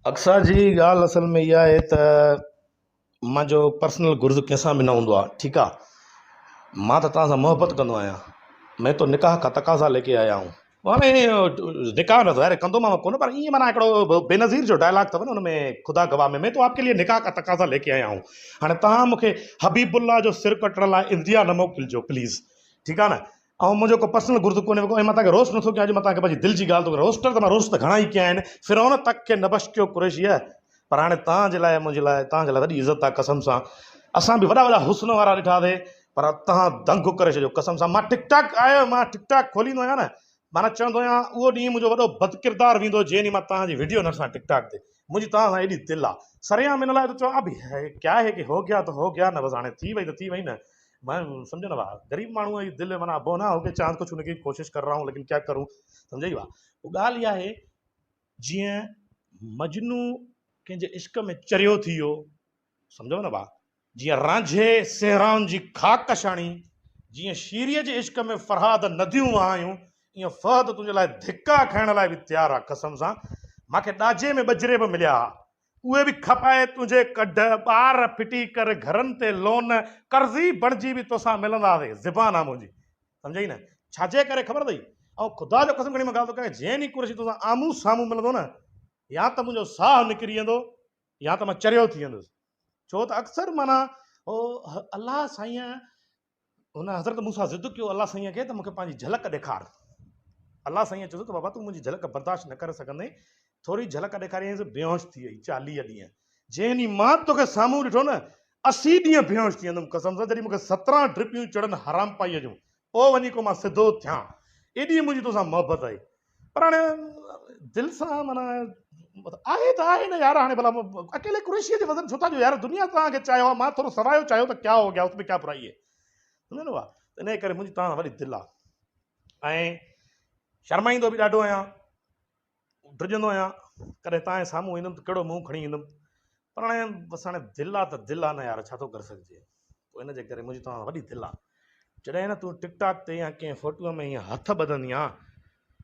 اقصيٰ جي ڳالهه اصل ۾ اها آهي ته منهنجو پرسنل گرز ڪنهن سان به نه هوندو آهي ٺيڪ آهي مان ته توهان سان محبت ڪندو آهيان مين تو نڪاح ڪا تقاضا ليڪي آيا هون هاڻي نڪاح ته ظاهر ڪندومانو ڪونه پر ائين معنيٰ هڪڙو بي نظير جو ڊائلاگ اٿو نه ان ۾ خدا گواهه ۾ مين تو آپڪي ليئي نڪاح ڪا تقاضا ليڪي آيا هون هاڻي توهان مونکي حبيب الله جو سر ڪٽڻ لاء انڊيا نه موڪلجو پليز ٺيڪ آهي نه اهو منهنجو ڪو پرسنل گرد ڪونهي ۽ مان توهان کي روسٽ نٿو ڪيان اڄ مان توهان کي پنهنجي دل جي ڳالهه ٿو ڪران روسٽر ته مان روسٽ ته گهڻا ئي ڪيا آهن فرعون تڪ کي نه بشڪيو قريشيء پر هاڻي توهان جي لاء منهنجي لاء توهان جي لاء وڏي عزت آهي قسم سان اسان به وڏا وڏا حسن وارا ڏٺا سي پر توهان دنگ ڪري ڇڏيو قسم سان مان ٽڪ ٽاڪ آهيو مان ٽڪ ٽاڪ کوليندو آهيان نه معنيٰ چوندو آهيان اهو ڏينهن منهنجو وڏو بدڪردار ويندو جنهن ڏينهن مان توهان جي وڊيو نه ڏسان ٽڪ ٽاڪ تي منهنجي توهان سان ايڏي دل آهي سرعام ان لاء ته چوان ابي هي ڪيا هي ڪي هو گيا تو هو گيا نه بس هاڻي ٿي وئي ته ٿي وئي نه ماڻهو ماڻهو سمجهه نه ڀاء غريب ماڻهو جي دل معنيٰ ابو نه هوڪي چاند ڪو ڇوڻي ڪي ڪوشش ڪر رها هون ليڪن ڪيا ڪرون سمجهه اي ڀاء هو ڳالهه اها آهي جيئن مجنو ڪنهن جي عشق ۾ چريو ٿي ويو سمجهو نه ڀاء جيئن رانجهي سهران جي خاڪ شاڻي جيئن شيريء جي عشق ۾ فرهاد نديون وهايون ائين فهد تنهنجي لاء ڌڪا کائڻ لاء به تيار آ قسم سان ماکي ڏاجي ۾ ٻجري به مليا ها اهي به کپائي تنهنجي ڪڍ، ٻار ڦٽي ڪر گهرن تي لون، قرضي بڻجي به توسان ملنداسي، زبان آ منهنجي. سمجهيئي نه؟ ڇاجي ڪري خبر اٿئي؟ آئون خدا جو قسم کڻي مان ڳالهه ٿو ڪيان، جنهن ڏينهن قريشي توسان آمهون سامهون ملندو نه، يا ته منهنجو ساهه نڪري ويندو، يا ته مان چريو ٿي ويندس. ڇو ته اڪثر معنيٰ هو الله سائين هن حضرت مون سان ضد ڪيو، الله سائينء کي ته مون کي پنهنجي جهلڪ ڏيکار. الله سائينء چيس ته بابا تون منهنجي جهلڪ برداشت نه ڪري سگهندين، ٿوري جهلڪ ڏيکاريائينس بيهوش ٿي ويئي چاليهه ڏينهن. جنهن ڏينهن مان توکي سامهون ڏٺو نه، اسي ڏينهن بيهوش ٿي ويندم قسم سان جڏهن مون کي سترهن ڊپيون چڙهن حرامپائيء جون، پوء وڃي ڪو مان سڌو ٿيان. ايڏي منهنجي توسان محبت آهي. پر هاڻي دل سان معنيٰ آهي ته آهي نه يار هاڻي ڀلا اڪيلي قريشيء جو وزن ڇو ٿا ڏيو يار دنيا توهان کي چاهيو آهي مان ٿورو سوايو چاهيو ته ڪيا هو گيا اس ۾ ڪيا برائي هي سمجهيو نه ته انهي ڪري منهنجي توهان سان وڏي دل آهي ۽ شرمائيندو به ڏاڍو آهيان ڊڄندو آهيان ڪڏهن توهان جي سامهون ايندم ته ڪهڙو منهن کڻي ايندم پر هاڻي بس هاڻي دل آ ته دل آ نه يار ڇا ٿو ڪري سگهجي پوء ان جي ڪري منهنجي توهان سان وڏي دل آ جڏهن نه تون ٽڪ ٽاڪ تي يا ڪنهن فوٽوء ۾ ائين هٿ ٻڌندي آ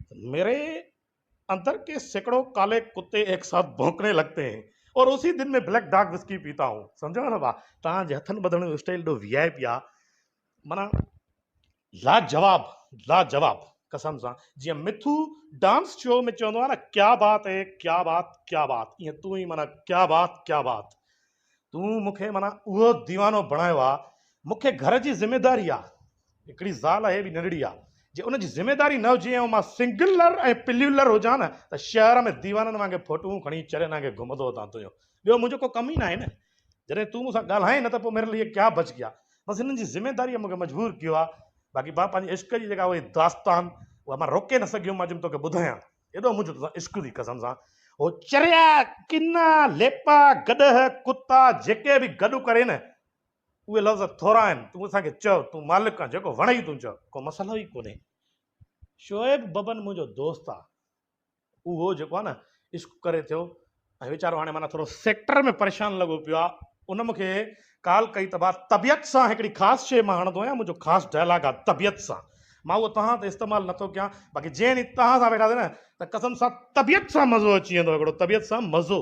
ته ميري اندر ڪي سيڪڙو ڪالي ڪتي ايڪ ساٿ ڀونڪڻي لڳتي هين اور اسي دن مين بليڪ ڊاڪ وسڪي پيتا هون سمجهيو نه ڀا توهان جي هٿن ٻڌڻ جو اسٽائيل ايڏو وي آء پي آ معنيٰ لاجواب لاجواب قسم سان جيئن مٿو ڊانس شو ۾ چوندو آهي نه ڪيا بات هي ڪيا بات ڪيا بات ائين تون ئي معنيٰ ڪيا بات ڪيا بات تون مون کي معنيٰ اهو ديوانو بڻايو آهي مون کي گهر جي ذميداري آهي هڪڙي زال آهي به ننڍڙي آهي جي ان جي ذميداري نه هجي ۽ مان سنگلر ۽ پليولر هجان نه ته شهر ۾ ديوانن وانگي ڦوٽون کڻي چريان وانگي گهمندو هتان تنهنجو ٻيو منهنجو ڪو ڪم ئي ناهي نه جڏهن تون مون سان ڳالهائين نه ته پوء ميري لئي ڪيا بچ گيا. بس هنن جي ذميداريء مون کي مجبور ڪيو آهي. باقي مان پنهنجي عشق جي جيڪا اهي داستان اها مان روڪي نه سگهيم مان جي توکي ٻڌايان. ايڏو منهنجو تو سان عشق ٿي قسم سان. هو چريا، ڪنا، ليپا، گڏهه، ڪتا جيڪي به گڏ ڪرين نه اهي لفظ ٿورا آهن. تون اسان کي چئو تون مالڪ آن جيڪو وڻئي تون چئو. ڪو مسئلو ئي ڪونهي. شعيب ببن منهنجو دوست آهي. اهو جيڪو آهي نه عشق ڪري ٿيو ۽ ويچارو هاڻي معنيٰ ٿورو سيڪٽر ۾ پريشان لڳو پيو آهي ان مون کي ڪال ڪئي ته ڀا طبيعت سان هڪڙي خاص شيء مان هڻندو آهيان منهنجو خاص ڊائلاگ آهي طبيعت سان مان اهو توهان تي استعمال نه ٿو ڪيان باقي جنهن ڏينهن توهان سان ويٺاسي نه ته قسم سان طبيعت سان مزو اچي ويندو هڪڙو طبيعت سان مزو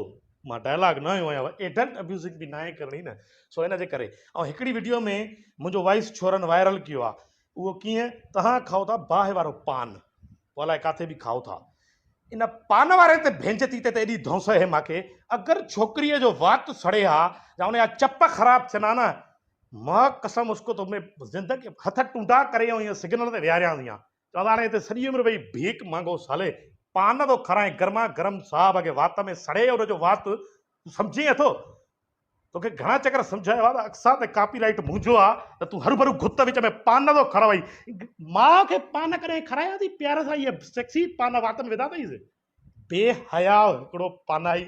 مان ڊائلاگ نه هنيو آهيان ايڊلٽ ابيوزنگ به ناهي ڪرڻي نه سو ان جي ڪري ۽ هڪڙي وڊيو ۾ منهنجو وائس ڇورن وائرل ڪيو آهي اهو ڪيئن؟ توهان کائو ٿا باهه وارو پان، پوء الائي ڪاٿي به کائو ٿا. ان پان واري تي ڀينچ تيتي تي ايڏي ڌونس اهي ماکي، اگر ڇوڪريء جو وات سڙي ها يا ان جا چپ خراب ٿين ها نه، ماء قسم اس ڪو تو مين زندگي ڀر هٿ ٽونڊا ڪري ۽ ائين سگنل تي ويهاريان ٿي ها. چوان ٿا هاڻي هتي سڄي عمر ويهي ڀيڪ مانگو سالي، پان ٿو کارائين گرما گرم صاحب کي وات ۾ سڙي ان جو وات تون سمجهين اٿو؟ توکي گهڻا چڪر سمجهايو آ ته اقصيٰ تي ڪاپي رائيٽ منهنجو آ ته تون هرڀرو گهت وچ ۾ پان ٿو کاراوئين. ماء کي پان ڪڏهن کارايا اٿئي پيار سان اهي سيڪسي پان وات ۾ وڌا اٿئينس. بي حياء هڪڙو پانائي